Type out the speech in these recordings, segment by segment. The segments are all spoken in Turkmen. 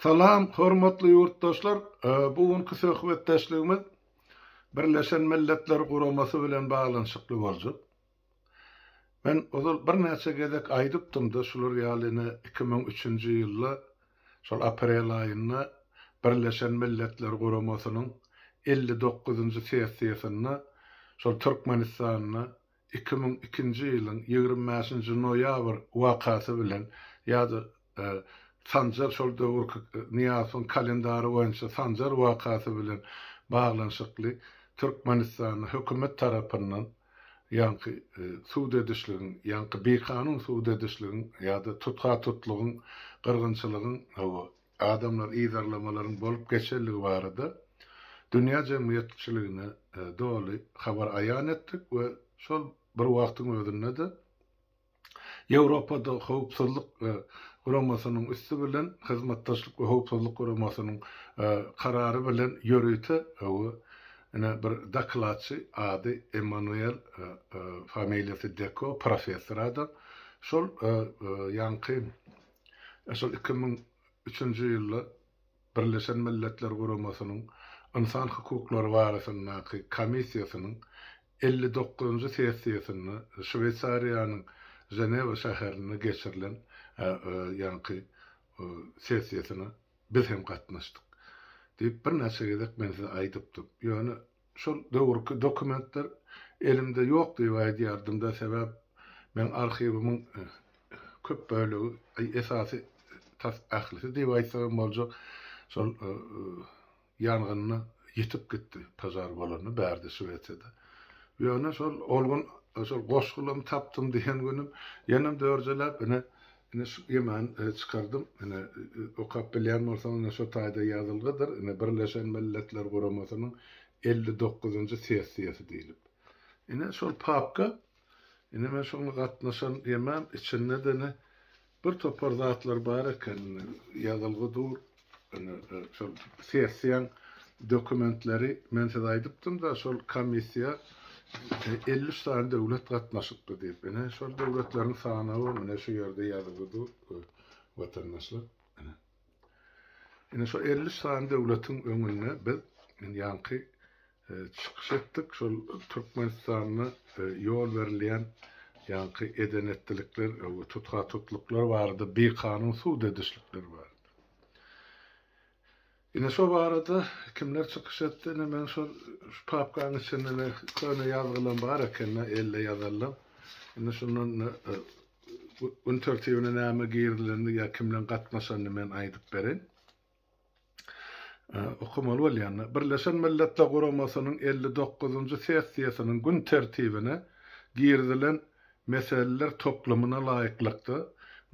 Salam, hormatly ýurtdaşlar! Bu günki söhbetdeşligimiz Birleşen Milletler Guramasy bilen baglanyşykly boljak. Men ozal birnäçe gezek aýdypdym-da, şular ýaly ine iki müň üçünji ýylda, şol aprel aýynda Birleşen Milletler Guramasynyň elli dokuzynjy sessiýasynda şol Türkmenistanda iki müň ikinji ýylyň ýigrimi bäşinji noýabr wakasy bilen ýa-da Sanjar şol döwürki Nyýazowyň kalendary boýunça Sanjar wakasy bilen baglanyşykly Türkmenistanda hökümet tarapyndan ýaňky sud edişligiň, ýaňky bikanun sud edişligiň ýa-da tutha-tutlugyň, gyrgynçylygyň, hawa, Adamlar yzarlamalaryň bolup geçerligi barada dünýä jemgyýetçiligine doly habar aýan etdik we şol bir wagtyň özünde-de Ýewropada Howpsuzlyk Guramasynyň üsti bilen Hyzmatdaşlyk we Howpsuzlyk Guramasynyň karary bilen ýörite we ine bir dokladçy ady Emmanuel familiýasy Deko professor adam şol ýaňky Esl iki müň üçünji ýylda Birleşen Milletler Guramasynyň Ynsan hukuklary barasyndaky Komissiýasynyň elli dokuzynjy sessiýasynda Şweýsariýanyň Ženewa şäherinde geçirilen ýaňky sessiýasyna biz hem gatnaşdyk diýip birnäçe gezek men size aýdypdym. Ýöne Şol döwürki dokumentler elimde ýok diýip aýdýardym-da, sebäp meň arhiwimiň köp bölegi, aý, esasy, tas ählisi diýip aýtsak hem boljak, şol ýangynda ýitip gitdi, požar bolanda bärde Şwesiýada. Ýöne şol, ol gün şol goşgulamy tapdym diýen günim, ýenem dörjeläp, ine, Ine şu gimany çykardym. Ine okap bilýän bolsaň ine şo taýda ýazylgydyr. Ine Birleşen Milletler Guramasynyň elli dokuzynjy sessiýasy diýlip. Ine şol papka. Ine men şoňa gatnaşan gimam içinde-de ine bir topar zatlar bar eken. Ine ýazylgy dur. Şol sessiýaň dokumentleri men size aýdypdym-da, şol komissiýa elli üç sany döwlet gatnaşypdy diýip. Ine, şol döwletleriň sanawy ine şu ýerde ýazgy dur, watandaşlar. Ine. Ine şu elli üç sany döwletiň öňünde biz ýaňky çykyş etdik. Şol Türkmenistanda ýol berilýän ýaňky eden-etdilikler we tutha-tutluklar barada, bikanun sud edişlikler barada. Ine şo barada kimler çykyş etdi? Ine men şol şu papkaň içinde köne ýazgylam bar eken-de, elle ýazalyň. Ine şundan gün tertibine näme girilendi ýa kimleň gatnaşanyny men aýdyp bereýin. okamaly bolýanlar Birleşen Milletler Guramasynyň elli dokuzynjy sessiýasynyň gün tertibine girizilen meseleler toplumyna laýyklykda,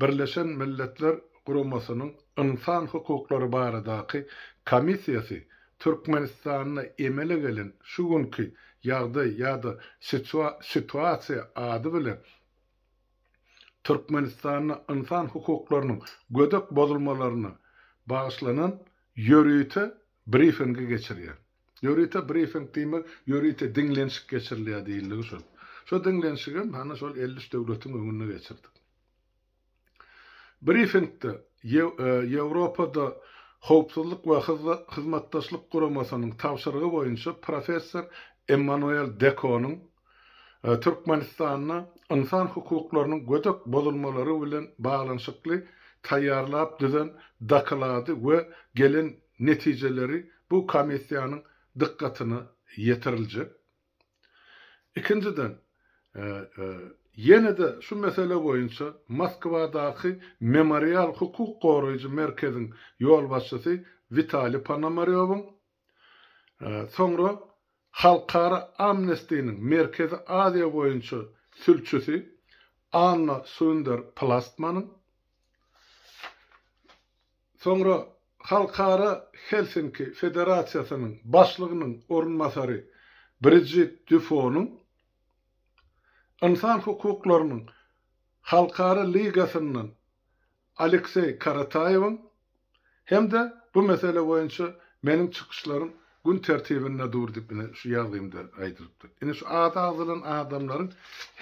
Birleşen Milletler Guramasynyň Ynsan hukuklary baradaky komissiýasy Türkmenistanda emele gelen şu günki ýagdaý ýa-da situasiýa ady bilen Türkmenistanda ynsan hukuklarynyň gödek bozulmalaryna bagyşlanan ýörite brifingi geçirýär. Ýörite brifing diýmek, ýörite diňlenişik geçirilýär diýildigi şol. Şo diňlenişigem hana şol elli üç döwletiň öňünde geçirdik. Brifingde Ýewropada Howpsuzlyk we Hyzmatdaşlyk Guramasynyň tabşyrygy boýunça professor Emmanuel Dekonyň Türkmenistanda ynsan hukuklarynyň gödek bozulmalary bilen baglanyşykly taýýarlap düzen doklady we gelen netijeleri bu komissiýanyň dykgatyna ýetiriljek. Ikinjiden, ýene-de şu mesele boýunça Moskwadaky Memorial hukuk goraýjy merkeziň ýolbaşçysy Witaliý Ponomarýowyň, Soňra Halkara Amnestiniň Merkezi Aziýa boýunça sülçüsi Anna Sunder Plastmanyň, soňra Halkara Helsinki Federasiýasynyň başlygynyň orunbasary Brijit Dýufonyň, Ynsan hukuklarynyň halkara ligasyndan Alekseý Karataýewiň hem-de bu mesele boýunça meniň çykyşlarym gün tertibinde dur diýip ine şu ýazgymda aýdylypdyr. Ine şu ady agzalan adamlaryň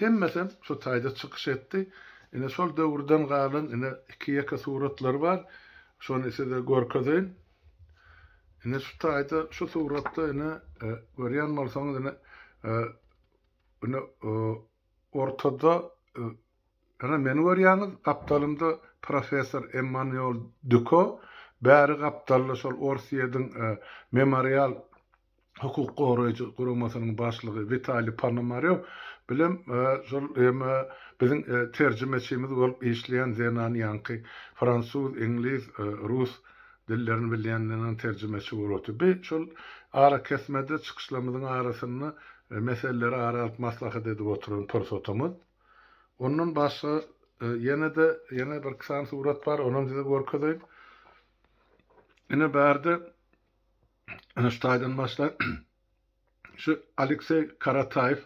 hemmesem şu taýda çykyş etdi. Ine şol döwürden galan ine iki-ýeke suratlary bar. Şony size görkezeýin. Ine şu taýda şu suratda ine görýän bolsaňyz ine ine ortada Ana, meni görýäňiz, gapdalymda professor Emmanuel Duko, bäri gapdalda şol Orsýediň Memorial hukuk goraýjy guramasynyň başlygy Witaliý Ponomarew bilen şol biziň terjimeçimiz bolup işleýän zenan ýaňky fransuz, iňlis, rus dillerini bilýän zenan terjimeçi bolup otyr. Bi şol arakesmede çykyşlarymyzyň arasynda meseleleri ara alyp maslahat edip oturan pursatymyz. Ondan başga ýene-de ýene bir iki sany surat bar, onam size görkezeýin. Ine bärde ene şu taýdan başlaýyn. Şu Alekseý Karataýew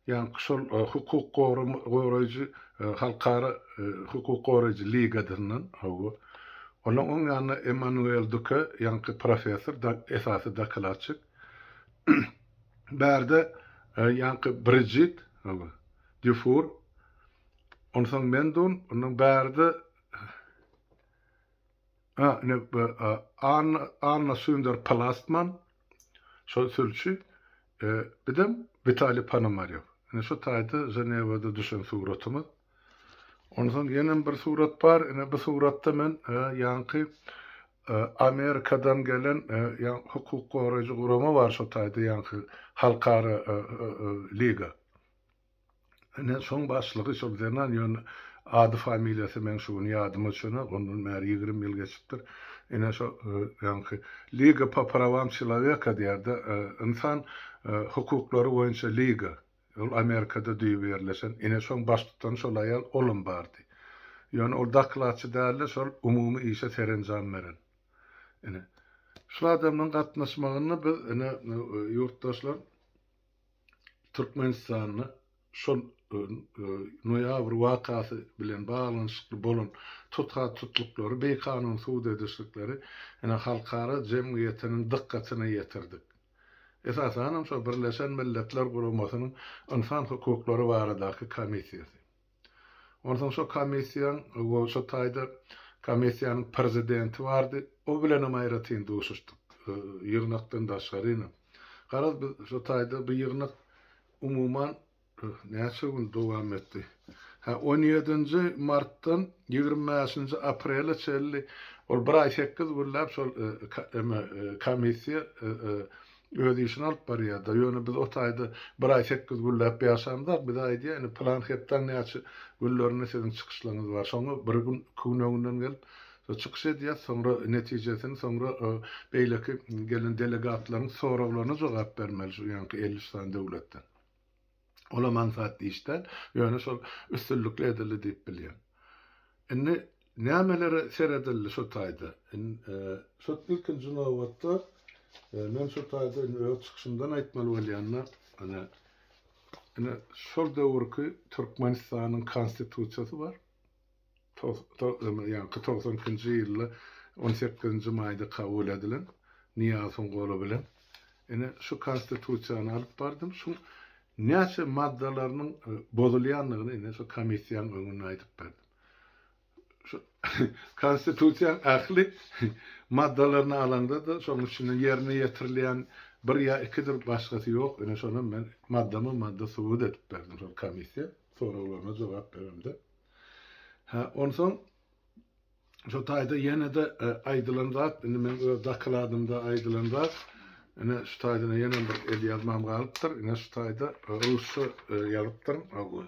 ýaňky şol e, hukuk goraýjy e, halkara e, hukuk goraýjy ligadyndan hawa. Onuň oň ýanynda Emmanuel Duke ýaňky professor, esasy dokladçik. Bärde ýaňky Bridjit, ol Dýufur, onsoň men dun, ondan bärde a, ine Anna, Anna Sünder Palastman, şol sülçi, e, bidem Witali Panomarýow. Ine şu taýda Ženewada düşen suratymyz. Onsoň ýenem bir surat bar. Ine bu suratda men ýaňky Amerikadan gelen hukuk goraýjy gurama bar şo taýda ýaňky halkara liga. Ine şoň başlygy şol zenan ýöne ady familiýasy meň şu gün ýadyma düşenok ondan bäri ýigrimi ýyl geçipdir. Ine şo ýaňky liga po prawam çeloweka diýýärdi ynsan hukuklary boýunça liga. Ol Amerikada düýbi ýerleşen. Ine, şoň baştutany şol aýal, olam bardy. Ýöne ol dokladçy däldi, şol umumy işe serenjam beren. Ine, şul adamlaryň gatnaşmagynda biz, ine, ýurtdaşlar, Türkmenistanda şol noýabr wakasy bilen baglanyşykly bolan tutha-tutluklary, bikanun sud edişlikleri, ine, halkara jemgyýetiniň dykgatyna ýetirdik. esasanam şol Birleşen Milletler Guramasynyň Ynsan hukuklary baradaky komissiýasy. Onsoň şo komissiýaň we şo taýda komissiýanyň prezidenti bardy, o bilenem aýratyn duşuşdyk, ýygnakdan daşgarynam. Garaz, biz şo taýda bu ýygnak umuman Bu näçe gün dowam etdi? Hä, on ýedinji martdan ýigrimi bäşinji aprele çenli, ol bir aý sekiz günläp şol eme, komissiýa öz işini alyp barýar-da. Ýöne biz o taýda bir aý sekiz günläp ýaşamzok. Bize aýdýar, indi pylan hepdäň näçe günlerinde siziň çykyşlaryňyz bar. Şoňa bir gün, iki gün öňünden gelip, şo çykyş edýäs, soňra netijesini, soňra beýleki gelen delegatlaryň soraglaryna jogap bermeli şu ýaňky elli üç sany döwletden. Olam aňsat iş däl, ýöne şol üstünlikli edildi diýip bilýän. Indi nämelere seredildi şu taýda? Şu ilkinji nobatda men şu taýda indi öz çykyşymdan aýtmaly bolýanda, ine, ine şol döwürki Türkmenistanyň Konstitusiýasy bar. ýaňky togsan ikinji ýylda on sekizinji maýda kabul edilen Nyýazowyň goly bilen ine şu Konstitusiýany alyp bardym. Şuň näçe maddalarynyň bozulýandygyny ine şu komissiýanyň öňünde aýdyp berdim. Şu Konstitusiýanyň ähli maddalaryny alaňda-da şonuň içinde ýerine ýetirilýän bir ýa ikidir başgasy ýok. Ine şonam men maddama-madda subut edip berdim şol komissiýa soraglaryna jogap beremde. Hä, onsoň şu taýda ýene-de aýdylan zat, indi meň öz dokladyňda aýdylan zat, ine şu taýda ýene bir el ýazmam galypdyr, ine şu taýda rusça ýazypdyryn, hawa.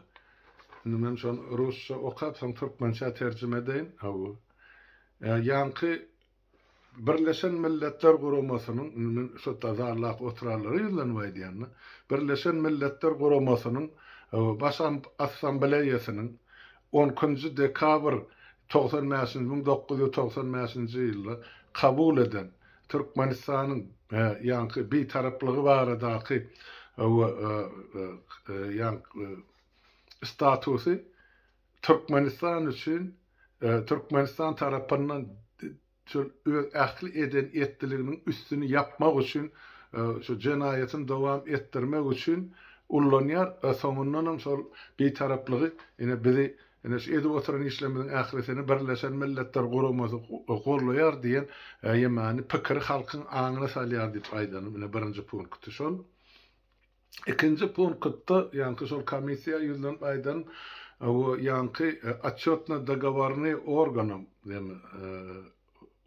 Indi men şony rusça okap, soň türkmençä terjime edeýin, hawa. Ýaňky Birleşen Milletler Guramasynyň, indi men şo tazarlap oturanlara ýüzlenip aýdýan-da, Birleşen Milletler Guramasynyň Baş Assambleýasynyň on ikinji dekabr togsan bäşinji, müň dokuz ýüz togsan bäşinji ýylda kabul eden Türkmenistanyň ýaňky Bitaraplygy baradaky ýaňky statusy Türkmenistan üçin Türkmenistan tarapyndan şol öz ähli eden etdiliginiň üstüni ýapmak üçin şu jenaýatyny dowam etdirmek üçin ullanýar we soňundanam şol Bitaraplygy ine bizi ine şu edip oturan işlerimiziň ählisini Birleşen Milletler Guramasy gollaýar diýen ýemany pikiri halkyň aňyna salýar diýip aýdanym ine birinji punkty şol. Ikinji punktda ýaňky şol komissiýa ýüzlenip aýdan we ýaňky Otçýotny dogoworny organam diýen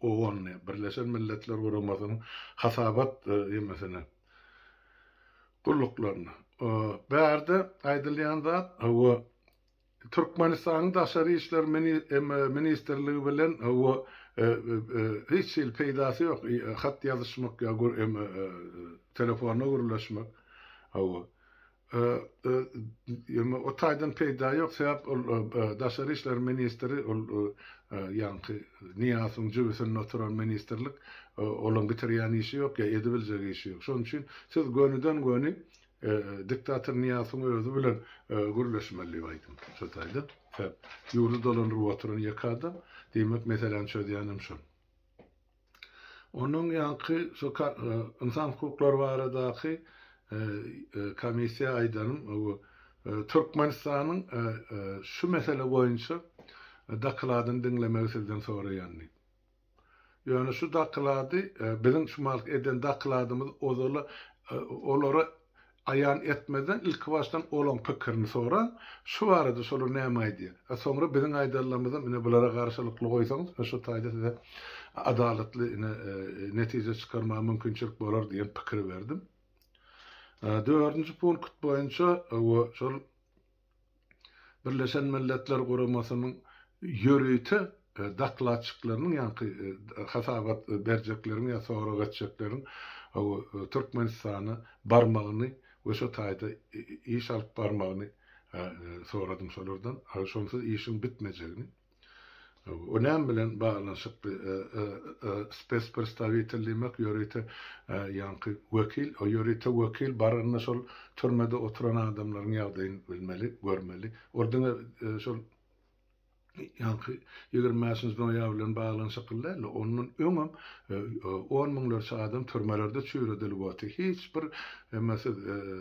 OON-ny, Birleşen Milletler Guramasynyň hasabat emesini, gulluklaryny, bärde aýdylýan zat we Türkmenistanyň Daşary işler ministrligi bilen we hiç hili peýdasy ýok hat ýazyşmak ýa telefonda gürleşmek hawa o taýdan peýda ýok sebäp ol Daşary işler ministri ol ýaňky Niýazowyň jübüsinde oturan ministrlik olaň bitirýän işi ýok ýa edibiljek işi ýok şonuň üçin siz gönüden göni Diktator Nyýasyň özi bilen gürleşmeli diýip aýdym şo taýda. Hep ýurdy dolandyryp oturan ýeke adam. Diýmek meseläni çözýänem şol. Onuň ýaňky şo ynsan hukuklary baradaky komissiýa aýdanym bu Türkmenistanyň şu mesele boýunça dokladyny diňlemegi sizden soraýan diýip. Ýöne şu dakylady biziň şu malky eden dakyladymyz ozala olara aýan etmezden ilkibaşdan olaň pikirini soraň, şu barada şolar näme aýdýa? A soňra biziň aýdanlarymyzam ine bulara garşylykly goýsaňyz ine şu taýda size adalatly ine netije çykarmaga mümkinçilik bolar diýen pikiri berdim. Dördünji punkt boýunça we şol Birleşen Milletler Guramasynyň ýörite dokladçyklarynyň ýaňky hasabat berjekleriň ýa sorag etjekleriň Türkmenistana barmagyny we şo taýda iş alyp barmagyny soradym şolardan. Şonsuz işiň bitmejegini. O näme bilen baglanyşykly? Spespredstawitel diýmek ýörite ýaňky wekil. O ýörite wekil baranda şol türmede oturan adamlaryň ýagdaýyny bilmeli, görmeli. Ol diňe şol ýaňky ýigrimi bäşinji noýabr bilen baglanyşykly däl, ondan öňem on müňlerçe adam türmelerde çüýredilip otyr. Hiç bir emesiz,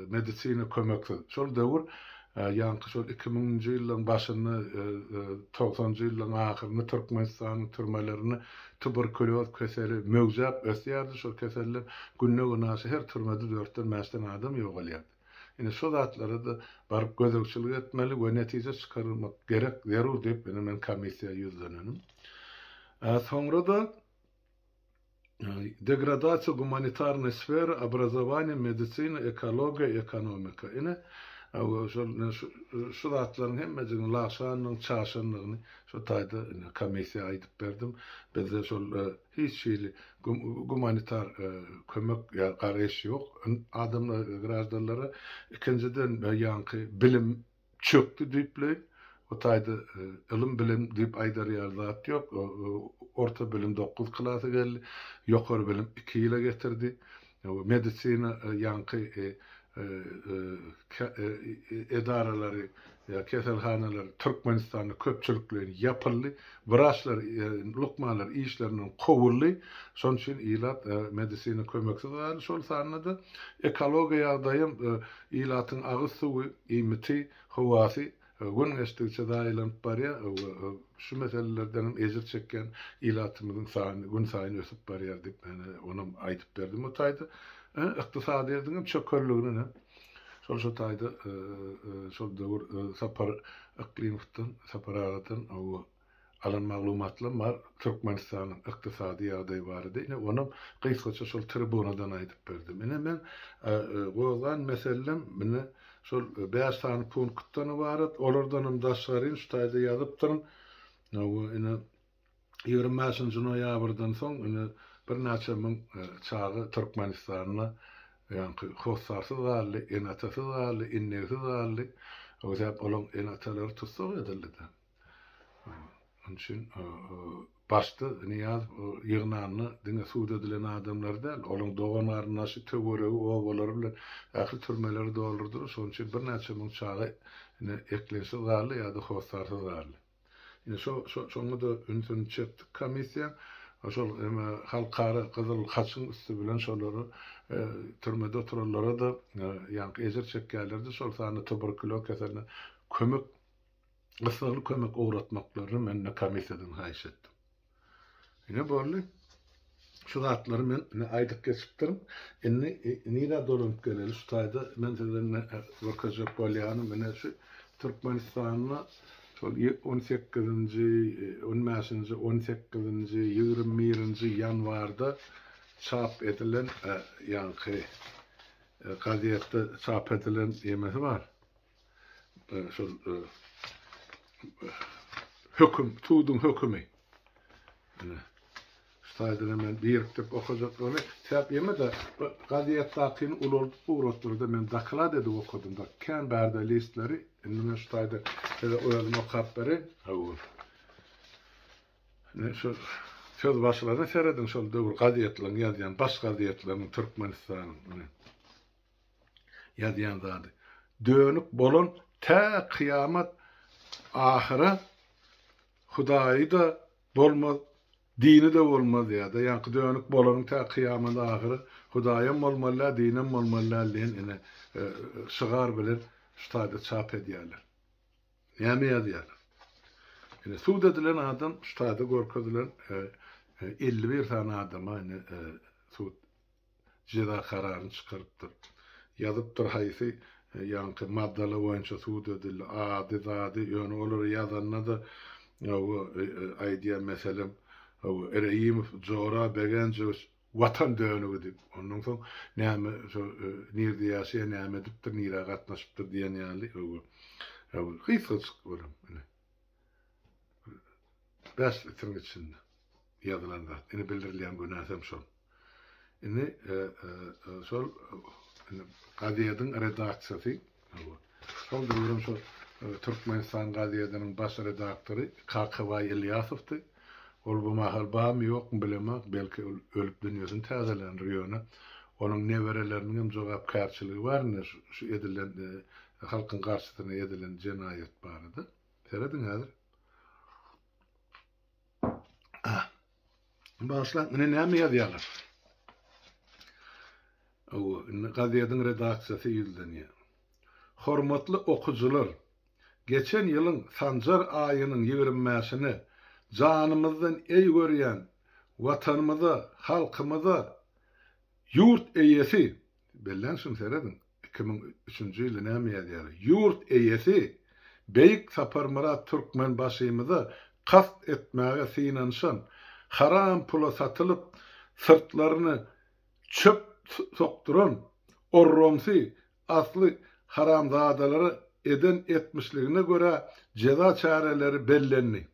medisina kömeksiz. Şol döwür Ýaňky şol iki müňünji ýyllaryň başynda, togsanjy ýyllaryň ahyrynda Türkmenistanyň türmelerinde tuberkulýoz keseli möwjäp ösýärdi. Şol keselden günde-günaşa her türmede dörtden, bäşden adam ýogalýardy. Ine, şu zatlara-da baryp gözegçilik etmeli we netije çykarmak gerek, zerur diýip, ine, men komissiýa ýüzlenenim. Soňra-da Degradasiýa gumanitarnyý sfera, obrazowaniýa, medisina, ekologiýa, ekonomika. Ine, şol şu zatlaryň hemmejiginiň lagşandygyny, çaşandygyny şu taýda ine komissiýa aýdyp berdim. Bizde şol hiç hili gumanitar kömek ýa garaýyş ýok adamlara, graždanlara. Ikinjiden, ýaňky bilim çökdi diýipleýin. Bu taýda ylym bilim diýip aýdar ýaly zat ýok. Orta bilim dokuz klasy geldi. Ýokary bilim iki ýyla getirdi. Medisina ýaňky edaralary, keselhanalar Türkmenistanda köpçülikleýin ýapyldy. Wraçlar, lukmanlar işlerinden kowuldy. Şonuň üçin ilat medisina kömeksiz galdy. Şol sanda-da ekologiýa ýagdaýam, ilatyň agyz suwy, iýmiti, howasy gün geçdigiçe zaýalanyp barýar we şu meselelerden hem ejir çekýän ilatymyzyň sany günsaýyn ösüp barýar diýip, onam aýdyp berdi bu taýda. Ykdysadyýetiň hem çökelligine Şol şu taýda şol döwür Sapar Yklymowdan, Sapar agadan alan maglumatlarym bar, Türkmenistanyň ykdysady ýagdaýy barada. Ine, onam gysgaça şol tribunadan aýdyp berdim. Ine, men gozgan meselem ine şol bäş sany punktdan ybarat. Olardanam daşgaryn şu taýda ýazypdyryn. Ine, Ýigrimi bäşinji noýabrdan soň indi birnäçe müň çaga Türkmenistanda ýaňky hossarsyz galdy, ene-atasyz galdy, indeksiz galdy. O sebäp olaryň ene-atalary tussag edildi-de. Onuň üçin başda Nyýaz ýygnanda diňe sud edilen adamlary däl, olaryň dogan-garyndaşy, töweregi, obalary bilen ähli türmeleri doldurdylar. Şonuň üçin birnäçe müň çaga indi eklençsiz galdy ýa-da hossarsyz galdy. Indi şo şo şoňa-da ünsüni çekdik komissiýaň. Şol eme halkara gyzyl haçyň üsti bilen şolary türmede oturanlara-da ýaňky ejir çekýärler-de, şol sanda tuberkulo keseline kömek gyssagly kömek ugratmaklaryny men-de komissiýadan haýyş etdim. Ine boldy. Şu zatlary men ine aýdyp geçipdirin. Indi nirä dolanyp geleli şu taýda men size görkezjek bolýanym ine şu Türkmenistanda şol 18-nji, 15-nji, 18-nji, 21-nji ýanwarda çap edilen ýaňky gazetde çap edilen ýemesi bar. şol höküm, suduň hökümi. Ine. Şaýdyna men birikdirip okajakdygyny, täp ýeme de gaziýet dakyny ulaldyp ugratdyrdy. Men doklad edip okadym da, kän bärde listleri, indi men şaýda size özüm okap berin. Hawa. Ne şol söz başlaryny serediň şol döwür gaziýetleriň ýazýan baş gaziýetleriniň Türkmenistanyň. ýazýan zady. Dönük bolan tä kyýamat ahyra Hudaýy-da bolmaz, dini-de bolmaz ýa-da ýaňky dönük bolanyň tä kyýamat ahyry Hudaýam bolmalydä, dinem bolmalydä diýen ine şygar bilen şu taýda çap edýärler. Näme ýazýarlar? Ine sud edilen adam şu taýda görkezilen elli bir sany adama ine sud jeza kararyny çykarypdyr. Ýazypdyr haýsy ýaňky maddalar boýunça sud edildi, ady zady, ýöne olary ýazanda-da hawa aýdýar meselem hawa Reýimow Jora Begenjowiç Watan dönügi diýip, ondan soň näme şo nirde ýaşaýar, näme edipdir, nirä gatnaşypdyr diýen ýaly hawa hawa gysgajyk olam ine. Bäş litiriň içinde ýazylan zat. Indi bildirilýän günäsi hem şol. Indi şol gazediň redaksiýasy, şol döwrüň şol Türkmenistan gazediniň baş redaktory Kakabaý Ylýasowdy. Ol bu mahal barmy, ýokmy bilemok, belki ol ölüp dünýesini täzelendir, ýöne onuň nebereleriniň hem jogapkärçiligi bar indi şu edilen halkyň garşysyna edilen jenaýat barada. Serediň häzir. Başlaň, ine näme ýazýarlar? Owo, indi gazetiň redaksiýasy ýüzlenýär. Hormatly okyjylar, geçen ýylyň Sanjar aýynyň ýigrimi bäşine janymyzdan eý görýän Watanymyza, halkymyza ýurt eýesi, belläň şuny serediň, Iki müň üçünji ýyly näme ýazýar? Ýurt eýesi Beýik Saparmyrat Türkmenbaşymyza kast etmäge synanyşan, haram pula satylyp, syrtlaryny çöp sokduran orromsi asly haramzadalara eden etmişligine görä jeza çäreleri bellendi.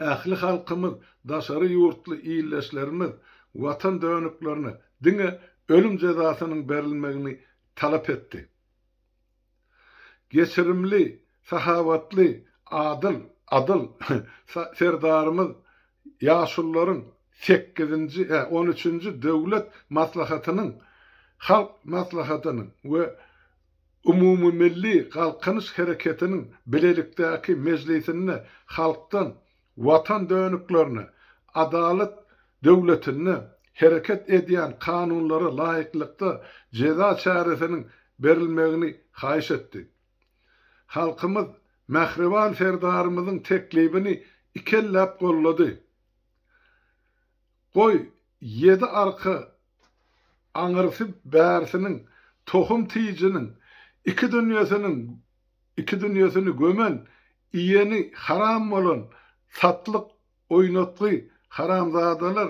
Ähli halkymyz, daşary ýurtly ildeşlerimiz Watan dönüklerine diňe ölüm jezasynyň berilmegini talap etdi. Geçirimli, sahawatly, adyl, adyl Serdarymyz ýaşulularyň sekizinji, on üçünji Döwlet maslahatynyň, Halk maslahatynyň we Umumymilli Galkynyş hereketiniň bilelikdäki mejlisinde halkdan Watan dönüklerine, adalat döwletinde hereket edýän kanunlara laýyklykda jeza çäresiniň berilmegini haýyş etdi. Halkymyz Mähriban Serdarymyzyň teklibini ikelläp goldady. Goý, ýedi arka aňyrsy bärsiniň, tohum tijiniň, iki dünýesiniň iki dünýesini gömen, iýeni haram bolan, satlyk, oýnatgy, haramzadalar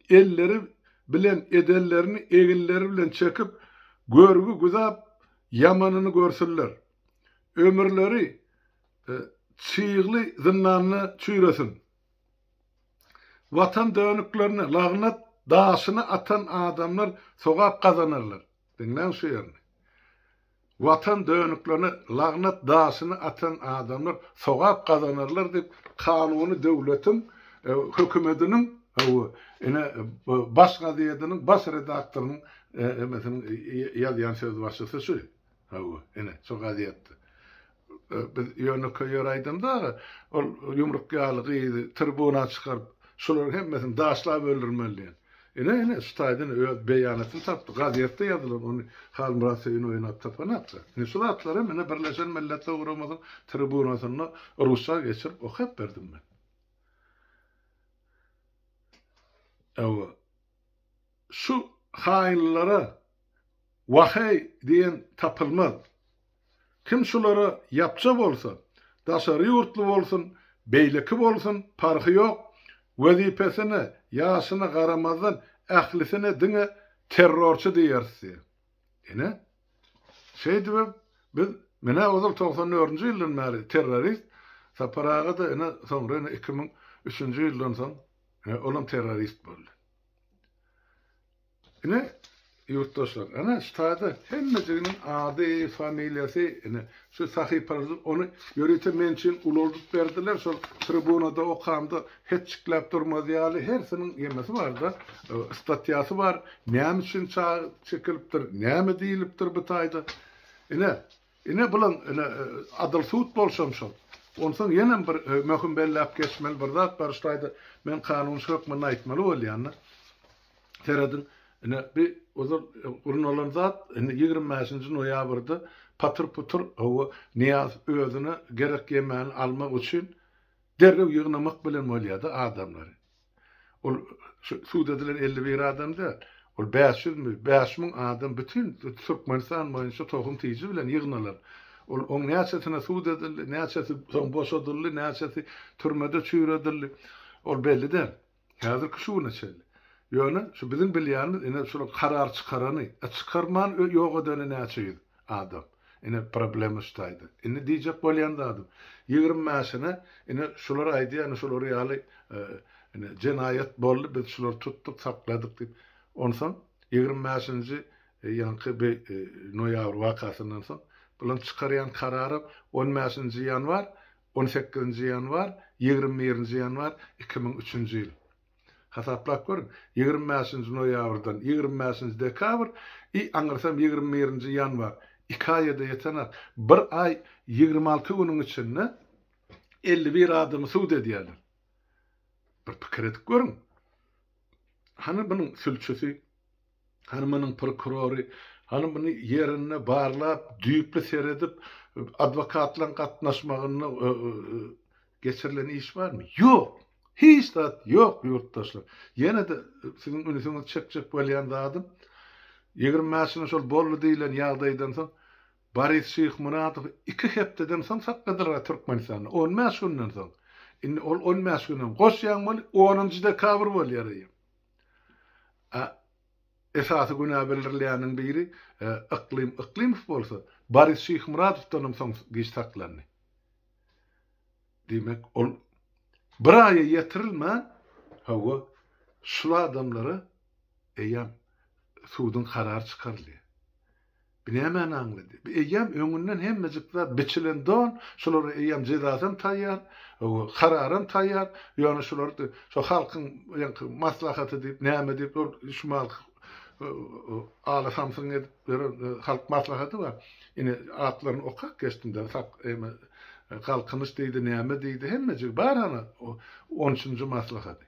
elleri bilen edenlerini eginleri bilen çekip, görgi güzap, ýamanyny görsünler. Ömürleri çygly zyndanda çüýresin. Watan dönüklerine lagnat daşyny atan adamlar sogap gazanarlar. Diňläň şu ýerini. Watan dönüklerine lagnat daşyny atan adamlar sogap gazanarlar diýip, kanuny döwletiň hökümediniň hawa, ine, baş gazediniň baş redaktorynyň emesiniň ýazýan sözbaşysy şu. Hawa, ine, şo gazetde. Biz ýönekeý ýer aýdym dagy, ol ýumruk ýaly gyzy tribuna çykaryp, şolaryň hemmesini daşlap öldürmeli diýen. Ine, ine, şu taýdan öz beýanatyny tapdy. Gazetde ýazylan, ony Halmyrat Söýün oýnap tapanok-da. Ine, şu zatlary hem, ine, Birleşen Milletler Guramanyň tribunasynda rusça geçirip okap berdim men. Hawa. Şu haýynlara waheý diýen tapylmaz. Kim şulara ýapja bolsa, daşary ýurtly bolsun, beýleki bolsun, parhy ýok, wezipesine, ýaşyna garamazdan ählisine diňe terrorçy diýeris diýýär. Ine, şeýdibem biz menä ozal togsan dördünji ýyldan bäri terrorist, Sapar aga-da ine soňra ine iki müň üçünji ýyldan soň He, olam terrorist boldy. Ine, ýurtdaşlar, ana şu taýda hemmejiginiň ady, familiýasy, ine şu sahypalary ony ýörite men üçin ulaldyp berdiler, şol tribunada okamda hetjikläp durmaz ýaly hersiniň ýemesi barda, statýasy bar, näme üçin çekilipdir, näme diýlipdir bu taýda. Ine, Ine, bulam, ine, adyl sud bolşam şol. Onsoň ýenem bir möhüm belläp geçmeli bir zat bar, şulaýda men kanunçy hökmünde aýtmaly bolýan-da. Serediň, ine, bi ozal gurnalan zat, indi ýigrimi bäşinji noýabrda patyr-putyr, hawa, Nyýaz özüne gerek ýemany almak üçin derrew ýygnamak bilen bolýar-da adamlary. Ol sud edilen elli bir adam däl. Ol bäş ýüz müň, bäş müň adam bütin Türkmenistan boýunça tohum-tiji bilen ýygnalyp, ol oň näçesine sud edildi, näçesi soň boşadyldy, näçesi türmede çüýredildi, ol belli däl. Häzirki şu güne çenli. Ýöne şu biziň bilýänimiz ine şular karar çykarany, a çykarman ýok edeni näçe ýüz adam. Ine problema ştaýda. Indi diýjek bolýan zadym, ýigrimi bäşine ine şular aýdýar, ine şular ýaly ine jenaýat boldy, biz şulary tutduk, sakladyk diýip. Onsoň ýigrimi bäşinji ýaňky bi noýabr wakasyndan soň bularyň çykarýan kararam on bäşinji ýanwar, on sekizinji ýanwar, ýigrimi birinji ýanwar iki müň üçünji ýyl. Hasaplap görüň, ýigrimi bäşinji noýabrdan ýigrimi bäşinji dekabr i aňyrsam ýigrimi birinji ýanwar, iki aýa-da ýetenok, bir aý ýigrimi alty günüň içinde elli bir adamy sud edýärler. Bir pikir edip görüň. Hany munuň sülçüsi? Hany munuň prokurory, hany muny ýerinde barlap, düýpli seredip, adwokatlaryň gatnaşmagynda geçirilen iş barmy? Ýok! Hiç zat ýok, ýurtdaşlar! Ýene-de siziň ünsiňizi çekjek bolýan zadym, ýigrimi bäş ýylyň şol boldy diýlen ýagdaýdan soň, Boris Şyhmuradowy iki hepdeden soň sakladylar-a Türkmenistanda, on bäş günden soň. Indi ol on bäş günem goşýaň bol, onunjy dekabr bolýar eýýäm. A Esasy günä bildirilýäniň biri Yklym Yklymow bolsa, Boris Şyhmyradowdanam soň giç saklandy. Diýmek, ol bir aýa ýetirilmän, hawa, şul adamlara eýýäm suduň karary çykarylýar. Bu nämäni aňlady? Bu eýýäm öňünden hemmejik zat biçilen don, şulara eýýäm jezasam taýýar, kararam taýýar, ýöne şular şo halkyň ýaňky maslahaty diýip, näme diýip ol şumal ala-samsygyň edip ýören halk maslahady bar. Ine, atlaryny okap geçdim-de, sak eýme, Galkynyş diýdi, näme diýdi, hemmejigi bar hany o on üçünji maslahady.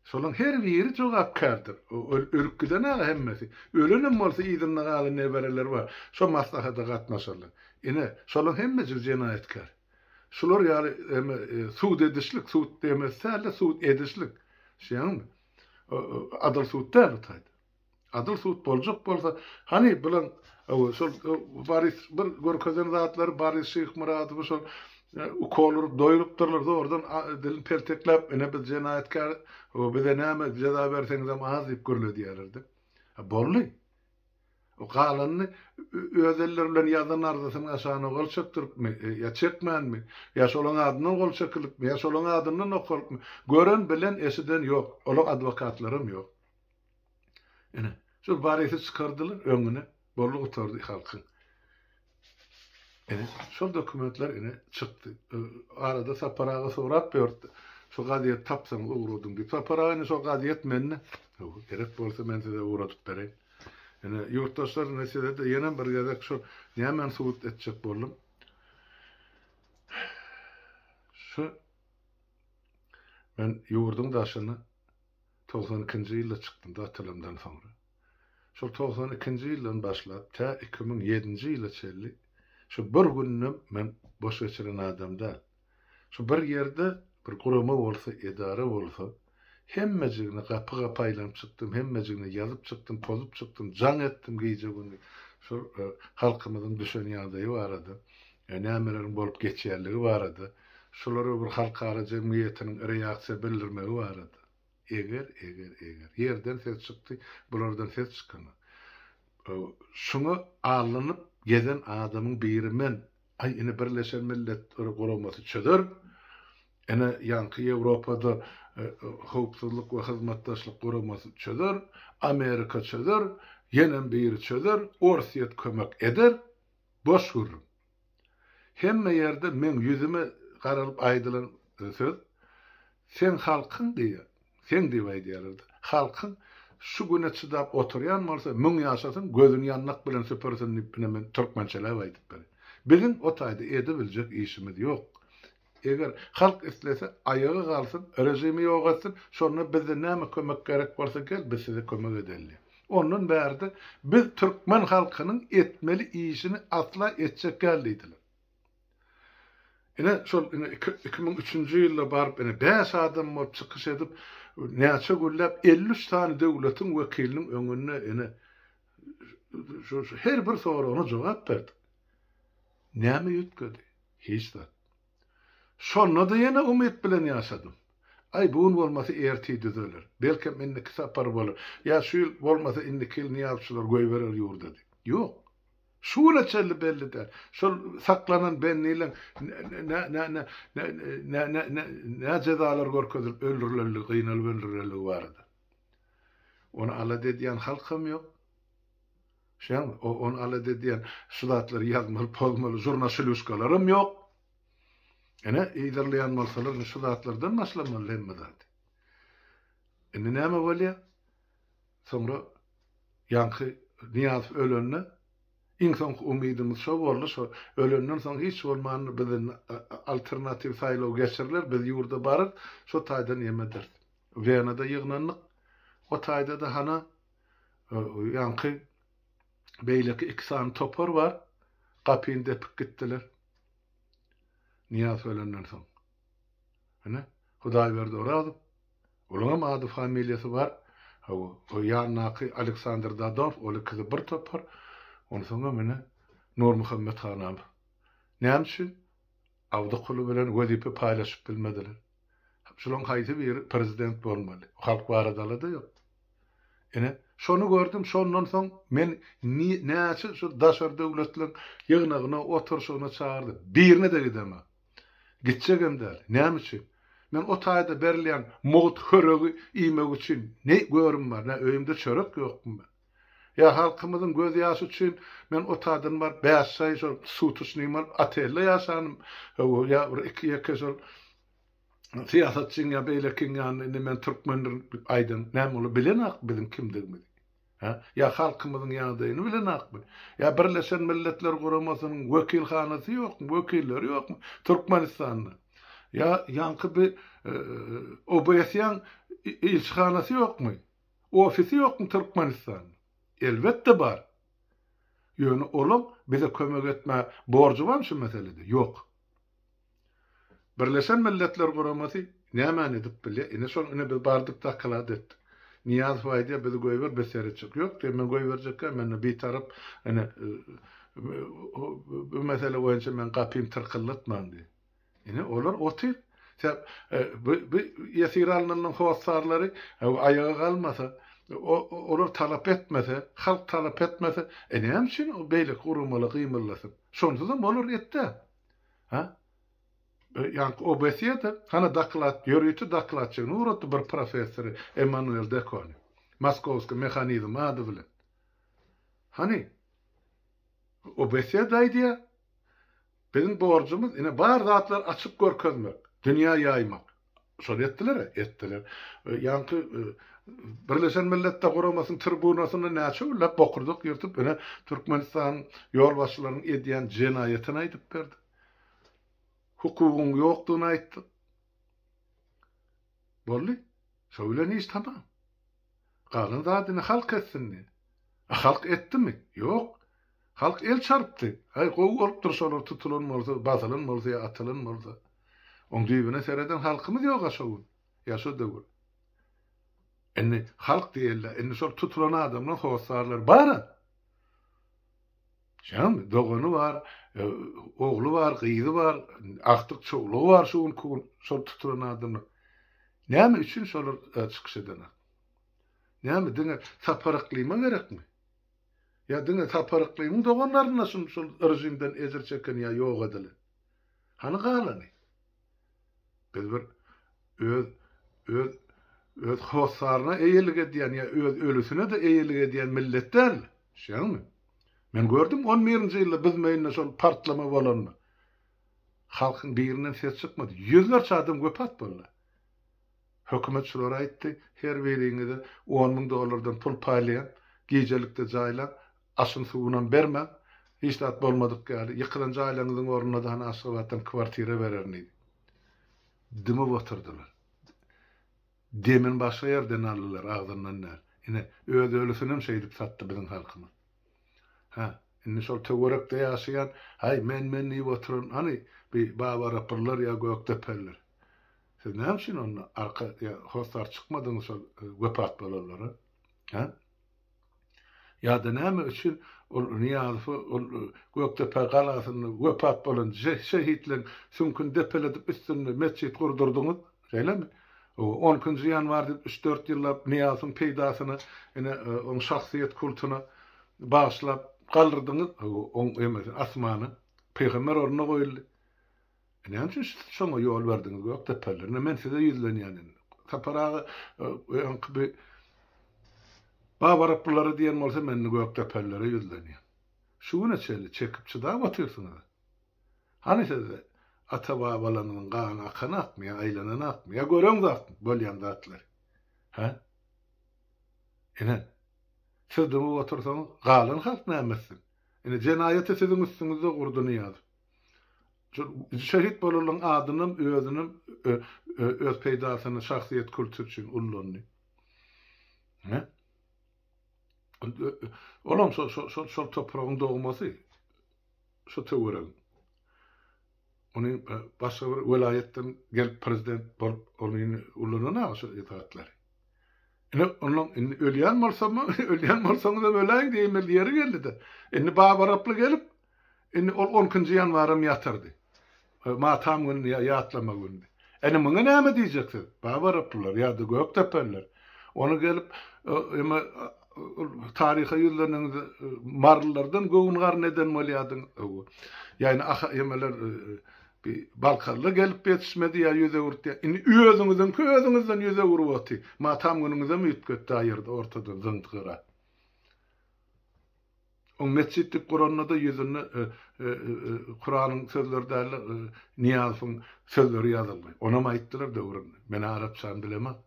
Şolaň her biri jogapkärdir. Ol ölüp giden aga hemmesi. Ölenem bolsa yzynda galan nebereleri bar. Şo maslahata gatnaşarlar. Ine, şolaň hemmesi jenaýatkär. Şular ýaly eme sud edişlik, sud demesi däl-de, sud edişlik. Şeýanmy? Adalat sud däl bu taýda. Adyl sud boljak bolsa, hany bilen ow şol Boris bir görkezen zatlary Boris Şyhmyradowy şol ukol urup doýrupdyrlar zordan dilini peltekläp ine biz jenaýatkär ow bize näme jeza berseňizem az diýip gürledýärlerdi. A boldy. O galanyny öz elleri bilen ýazan arzasynyň aşagyna gol çekdiripmi ýa çekmänmi ýa şolaň adyndan gol çekilipmi ýa şolaň adyndan okalypmy gören bilen eşiden ýok olaň adwokatlaram ýok. Ine, şol Borisy çykardylar, öňüne borly gutardy halkyň. Ine, şol dokumentler ine çykdy. Arada Sapar aga sorap ýördi. Şu gazet tapsaňyz ugradyň diýip. Sapar aga ine şol gazet mende. Gerek bolsa men size ugradyp bereýin. Ine, ýurtdaşlar ine size-de ýene bir gezek şol nämeni subut etjek boldum. Şu men ýurduň daşyny Togsan ikinji ýylda çykdym da atalamdan soňra. Şol togsan ikinji ýyldan başlap tä iki müň ýedinji ýyla çenli şu bir gününem men boş geçiren adam däl. Şu bir ýerde bir gurama bolsa, edara bolsa, hemmejigine gapy-gapy aýlanyp çykdym, hemmejigine ýazyp çykdym, pozup çykdym, jaň etdim gije-gündiz şol halkymyzyň düşen ýagdaýy barada, nämeleriň bolup geçýänligi barada, şulara bir halkara jemgyýetiniň reaksiýa bildirmegi barada. Eger, eger, eger. Ýerden ses çykdy, bulardan ses çykanok. Şuňa allanyp gezen adamyň biri men. Aý, ine Birleşen Milletler Guramasy çözer. Ine ýaňky Ýewropada Howpsuzlyk we Hyzmatdaşlyk Guramasy çözer. Amerika çözer. Ýenem biri çözer. Orsýet kömek eder. Boş gürrüň. Hemme ýerde meň ýüzüme garalyp aýdylan söz, Sen halkyň diýýär. Seň diýip aýdýarlar-da. Halkyň şu güne çydap oturýan bolsa, müň ýaşasyn, gözüni ýandak bilen süpürsin diýip ine men türkmençeläp aýdyp berin. Biziň o taýda edebiljek işimiz ýok. Eger halk islese aýaga galsyn, režimi ýok etsin, şonda bizde näme kömek gerek bolsa gel biz size kömek edeli. Ondan bärde biz türkmen halkynyň etmeli işini asla etjek däl diýdiler. Ine şol ine iki iki müň üçünji ýylda baryp ine bäş adam bolup çykyş edip näçe günläp elli üç sany döwletiň wekiliniň öňünde ine şu her bir soragyna jogap berdik. Näme üýtgedi? Hiç zat. Şonda-da ýene umyt bilen ýaşadym. Aý, bu gün bolmasa ertir düzeler. Belkem indiki sapar bolar. Ýa şu ýyl, bolmasa indiki ýyl nyýazçylar goýberer ýurda diýip. Ýok. Şu güne çenli belli däl. Şol saklanan bendileň nä jezalar görkezilip öldürilendigi, gynalyp öldürilendigi barada. Ony alada edýän halkam ýok. Şeňňe, o, ony al ede diýen şu zatlary ýazmaly, pozmaly žurnaşiluşkalaram ýok. Ine, ýazyrlaýan bolsalar, indi şu zatlardan başlamaly hemme zady. Indi näme bolýa? Soňra ýaňky Nyýazow ölende, iň soňky umydymyz şo boldy, şo ölenden soň hiç bolmanda biz indi alternatiw saýlaw geçiriler, biz ýurda bararys, şo taýdan ýem ederis. Wenada ýygnandyk. O taýda-da hana, Ýaňky beýleki iki sany topar bar, gapyny depip gitdiler. Nyýaz ölenden soň. Ine, Hudaýberdi Orazow. Olaň hem ady-familiýasy bar. Hawa, o ýandaky Aleksandr Dadonov, ol ikisi bir topar. Onsoňam ine, Nurmuhammet Hanamow. Näme üçin? Awdykuly bilen wezipe paýlaşyp bilmediler. Şulaň haýsy biri prezident bolmaly? Halk baradalada ýok. Ine, şony gördüm, şondan soň men näçe şu daşary döwletleriň ýygnagyna, oturşygyna çagyrdy, birine-de gideme. Gitjegem däl. Näme üçin? Men o taýda berilýän mugt höregi iýmek üçin ne görim bar, nä öýümde çörek ýokmy men? Ýa halkymyzyň göz ýaşy üçin men otadan baryp bäş aý şol sutuşnyý bolup otelde ýaşanym hawa ýa bir iki ýeke şol syýasatçyň ýa beýlekiň ýanynda indi men türkmendirin diýip aýdan näme olar bilenakmy biziň kimdigimizi hä ýa halkymyzyň ýagdaýyny bilenakmy ýa birleşen milletler guramasynyň wekilhanasy ýokmy wekilleri ýokmy türkmenistanda ýa ýaňky bir obs-yň ilçihanasy ýokmy Ofisi ýokmy Türkmenistan? Elbetde bar. Ýöne olaň bize kömek etmä borjy barmy şu meselede? Ýok. Birleşen Milletler Guramasy nämäni edip bilýä? Ine şol ine biz bardyk doklad etdik. Nyýazow aýdýa bizi goýber biz seretjek. Ýok diýýä men goýberjekkä mende bitarap ine bu mesele boýunça men gapym tyrkyldatmaň diýýä. Ine, olar otyr. Sen bu bu ýesir alnanyň hossarlary aýaga galmasa, olar talap etmese, halk talap etmese, e näme üçin beýleki guramalar gymyldasyn? Şonsuzam olar etde. Ha? Ýaňky OBSE-de hana doklad, ýörite dokladçyny ugratdy bir professory Emmanuel Dekony. Moskowski mehanizm ady bilen. Hany? OBSE-de aýdýar. Biziň borjumyz ine bar zatlary açyp görkezmek, dünýä ýaýmak. Şony etdiler-ä, etdiler. Ýaňky Birleşen Milletler Guramasynyň tribunasynda näçe günläp bokurdak ýyrtyp, ine Türkmenistanyň ýolbaşçylarynyň edýän jenaýatyny aýdyp berdik. Hukugyň ýokdugyny aýtdyk. Boldy. Şo bilen iş tamam. Galan zadyny halk etsindi. A halk etdimi? Ýok. Halk el çarpdy. Aý, gowy bolupdyr şolar tutulan bolsa, basylan bolsa ýa atylan bolsa. Oň düýbüne sereden halkymyz ýog-a şo gün, ýa şo döwür. Indi halk diýeli-de, indi şol tutulan adamlaryň hossarlary bar-a. Şam dogany bar, ogly bar, gyzy bar, agtyk çowlugy bar şu günki gün şol tutulan adamlar. Näme üçin şolar çykyş edenok? Näme diňe Sapar Yklyma gerekmi? Ýa diňe Sapar Yklymyň doganlaryna şol rejimden ejir çeken ýa ýok edilen? Hany galany? Biz bir öz öz öz hossaryna eýelik edýän ýa öz ölüsine-de eýelik edýän millet däl. Şeňňi? Men gördüm on birinji ýylda biz meýinde şol partlama bolanda. Halkyň birinden ses çykmady. Ýüzlerçe adam wepat boldy. Hökümet şulary aýtdy, her biriňize on müň dollardan pul paýlaýan, gijelikde jaýlaň, aşyn-suwunam bermäň, hiç zat bolmadyk ýaly, ýykylan jaýlaryňyzyň ornuna-da hany Aşgabatdan kwartira bererin diýdi. Dymyp otyrdylar. Demini başga ýerden aldylar, agzyndan däl. Ine, öz ölüsinem şeýdip satdy biziň halkymyz. Hä, indi şol töwerekde ýaşaýan, Haý, men-men diýip oturan, hany, bi Babarapyllar ýa Gökdepeliler? Siz näme üçin onda arka hossar çykmadyňyz şol wepat bolanlara? Hä? Ýa-da näme üçin ol Niýazowy ol Gökdepe galasynda wepat bolan şehitleň süňküni depeledip üstünde metjit gurdurdyňyz? Şeýlemi? On ikinji ýanwar diýip üç-dört ýyllap Niýazowyň peýdasyna ine oň şahsyýet kultyna bagyşlap galdyrdyňyz oň emesini asmana. Pygamber ornuna goýuldy. Näme üçin şoňa ýol berdiňiz, Gökdepeller? Ine, men size ýüzlenýän indi. Sapar aga, öňki bir Babaryplylara diýen bolsa, men indi Gökdepellere ýüzlenýän. Şu güne çenli çekip-çydap otyrsyňyz. Hany sizde ata-babalaryňyzyň gany akan akmy ýa aýlanan akmy? Ýa göreňiz akmy bolýan zatlary? Hä? Ine, siz dymyp otursaňyz, galan halk näme etsin? Ine, jenaýaty siziň üstüňizde gurdy Nyýazow. Şehit bolalyň adynam özünem öz peýdasyna şahsyýet kulty üçin ullandy. Hä? Olam şol şol şol şol topragyň dogmasy. Şo töweregiň. Ony başga bir welaýatdan gelip prezident bolup ony ullanan aga şo zatlary. Ine onuň indi ölýän bolsam, ölýän bolsaňyzam öläýiň diýmeli ýeri geldi-de. Indi babaraply gelip Indi ol on ikinji ýanwaram ýatyrdy. Matam gündi ýa ýatlama gündi. Ene muňa näme diýjeksiz? Baba Raplylar ýa-da Gökdepeliler. Ony gelip eme taryha ýüzleneniňiz marylylardan göwün-garyn eden bolýadyň. Ýa-ni aha emeler bi balkarlar gelip ýetişmedi ýa ýüz öwürtdi ýa. Indi özüňiziňki özüňizden ýüz öwürip oty. Matam günüňizem üýtgetdi aýyrdy ortadan zyňdy gyra. Oň metjit dip guranda-da ýüzünde Kuranyň sözleri däl-de, Nyýazowyň sözleri ýazyldy. Onam aýtdylar döwründe. Men arapçany bilemok.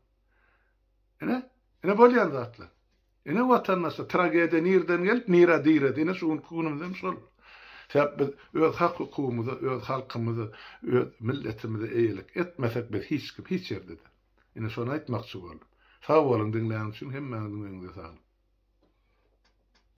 Ine, ine bolýan zatlar. Ine watandaşlar, tragediýa nireden gelip, nirä diredi. Ine şu günki günümizem şol. Sebäp biz öz hak-hukugymyza, öz halkymyza, öz milletimize eýelik etmesek biz hiç kim, hiç ýerde-de. Ine şony aýtmakçy boldum. Sag boluň diňlän üçin hemmäňiziň öňüňize saglyk.